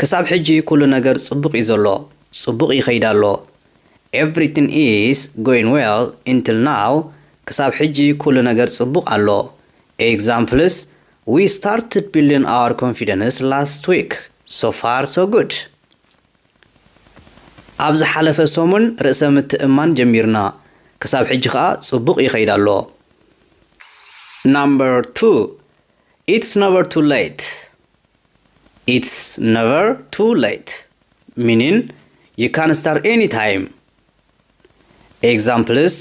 ክሳብ ሕጂ ኩሉ ነገር ጽቡቅ ዩ ዘሎ ጽቡቅ ይከይድ ኣሎ ኤቭሪትን ኢስ ጎይን ዌል ኢንትል ናው ክሳብ ሕጂ ኩሉ ነገር ጽቡቅ ኣሎ ኤግዛምፕልስ ዊ ስታርትድ ቢልድን ኣወር ኮንፊደንስ ላስት ዊክ ሶ ፋር ሶ ጉድ ኣብ ዝሓለፈ ሰሙን ርእሰ ምትእምማን ጀሚርና ክሳብ ሕጂ ከኣ ጽቡቅ ይከይድ ኣሎ ናምበር ቱ ኢትስ ነቨር ቱ ለይት ኢትስ ነቨር ቱ ለይት ሚኒን ዩ ካን ስታርት ኤኒ ታይም ኤግዛምፕልስ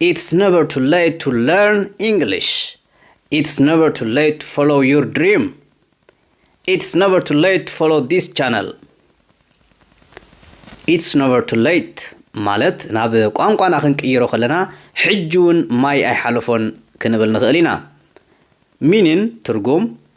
ኢትስ ነቨር ቱ ለይት ቱ ለርን ኢንግሊሽ ኢትስ ነቨር ቱ ለይት ቱ ፎሎው ዩር ድሪም ኢትስ ነቨር ቱ ለይት ቱ ፎሎው ዲስ ቻነል ኢትስ ነቨር ቱ ለይት ማለት ናብ ቋንቋና ክንቅይሮ ከለና ሕጂ እውን ማይ ኣይሓለፎን ክንብል ንኽእል ኢና ሚኒን ትርጉም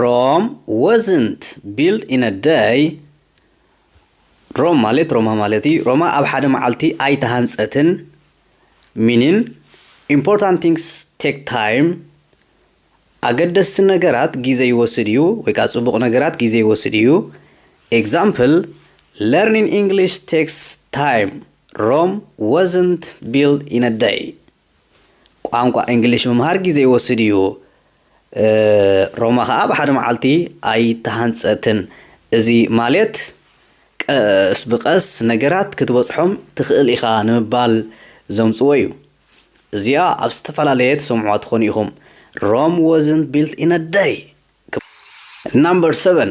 ሮም ወዝንት ቢልድ ኢን አ ደይ ሮም ማለት ሮማ ማለት እዩ ሮማ ኣብ ሓደ መዓልቲ ኣይተሃንፀትን ሚኒን ኢምፖርታንት ቲንግስ ቴክ ታይም ኣገደስቲ ነገራት ግዜ ይወስድ እዩ ወይ ከዓ ፅቡቕ ነገራት ግዜ ይወስድ እዩ ኤግዛምፕል ለርኒን ኢንግሊሽ ቴክስ ታይም ሮም ወዝንት ቢልድ ኢን አ ደይ ቋንቋ እንግሊሽ ምምሃር ግዜ ይወስድ እዩ። ሮማ ከኣ ብሓደ መዓልቲ ኣይተሃንጸትን። እዚ ማልት ቀስ ብቀስ ነገራት ክትበጽሖም ትኽእል ኢኻ ንምባል ዘምጽዎ እዩ። እዚኣ ኣብ ዝተፈላለየ ትሰምዕዋ ትኾኑ ኢኹም፣ Rome wasn't built in a day! ክብ። Number seven፣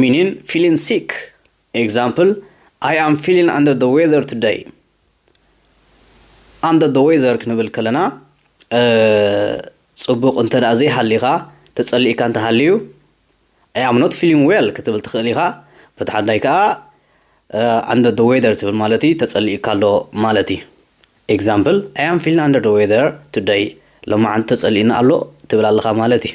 ሚኒን፣ ፊሊን ሲክ ኤግዛምፕል፣ ኣይ ኣም ፊሊን ኣንደር ዘ ዌዘር ቱደይ። ኣንደር ዘ ዌዘር ክንብል ከለና ፅቡቕ እንተ ዘይሃሊኻ ተፀሊእካ እንተሃልዩ ኣይ ኣም ኖት ፊሊን ዌል ክትብል ትኽእል ኢኻ። በቲ ሓዳይ ከዓ ኣንደር ዘ ዌዘር ትብል ማለት እዩ ተፀሊእካ ኣሎ ማለት እዩ። ኤግዛምፕል፣ ኣይ ኣም ፊሊን ኣንደር ዘ ዌዘር ቱደይ። ሎማዓንቲ ተፀሊእኒ ኣሎ ትብል ኣለኻ ማለት እዩ።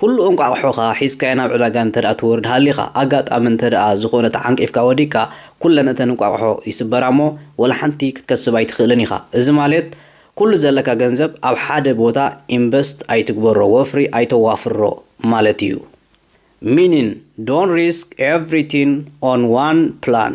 ኩሉ እንቋቑሖኻ ሒዝካዮ ናብ ዕዳጋ እንተድኣ ትወርድ ሃሊኻ፣ ኣጋጣሚ እንተድኣ ዝኾነ ተዓንቂፍካ ወዲቅካ፣ ኩለን እተን እንቋቑሖ ይስበራ እሞ ወላ ሓንቲ ክትከስብ ኣይትኽእልን ኢኻ። እዚ ማለት ኩሉ ዘለካ ገንዘብ ኣብ ሓደ ቦታ ኢንቨስት ኣይትግበሮ፣ ወፍሪ ኣይተዋፍሮ ማለት እዩ። Meaning፣ Don't risk everything on one plan።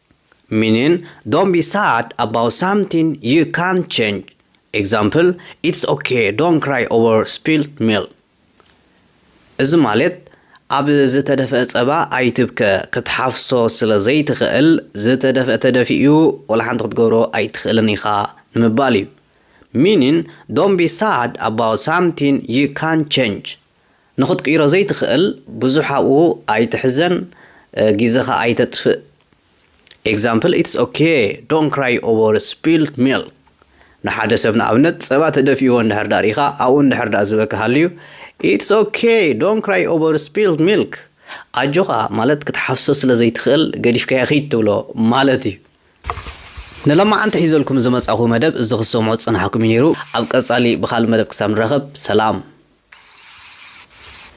ሚኒን፣ ዶንት ቢ ሳድ ኣባውት ሳምቲን ዩ ካንት ቼንጅ፣ ኤግዛምፕል፣ ኢትስ ኦኬ ዶንት ክራይ ኦቨር ስፒልድ ሚልክ። እዚ ማለት ኣብ ዝተደፍአ ጸባ ኣይትብከ፣ ክትሓፍሶ ስለ ዘይትኽእል ዝተደፍአ ተደፊኡ ዋላ ሓንቲ ክትገብሮ ኣይትኽእልን ኢኻ ንምባል እዩ። ሚኒን፣ ዶንት ቢ ሳድ ኣባውት ሳምቲን ዩ ካንት ቼንጅ፣ ንኽትቅይሮ ዘይትኽእል ብዙሕ ኣብኡ ኣይትሕዘን ጊዘኻ ኣይተጥፍእ Example It's ok don't cry over spilled milk ንሓደ ሰብ ንኣብነት ጸባ ተደፊእዎ እንድሕር ደኣ ርኢኻ ኣብኡ እንድሕር ደኣ ዝበኪ ሃልዩ It's ok don't cry over spilled milk ኣጆኻ ማለት ክትሓፍሶ ስለ ዘይትኽእል ገዲፍካዮ ኺድ ትብሎ ማለት እዩ። ንሎማዓንቲ ሒዘልኩም ዝመጻኹ መደብ እዚ ክትሰምዑ ዝጸናሕኩም እዩ ኔሩ ኣብ ቀጻሊ ብኻልእ መደብ ክሳብ ንራኸብ ሰላም።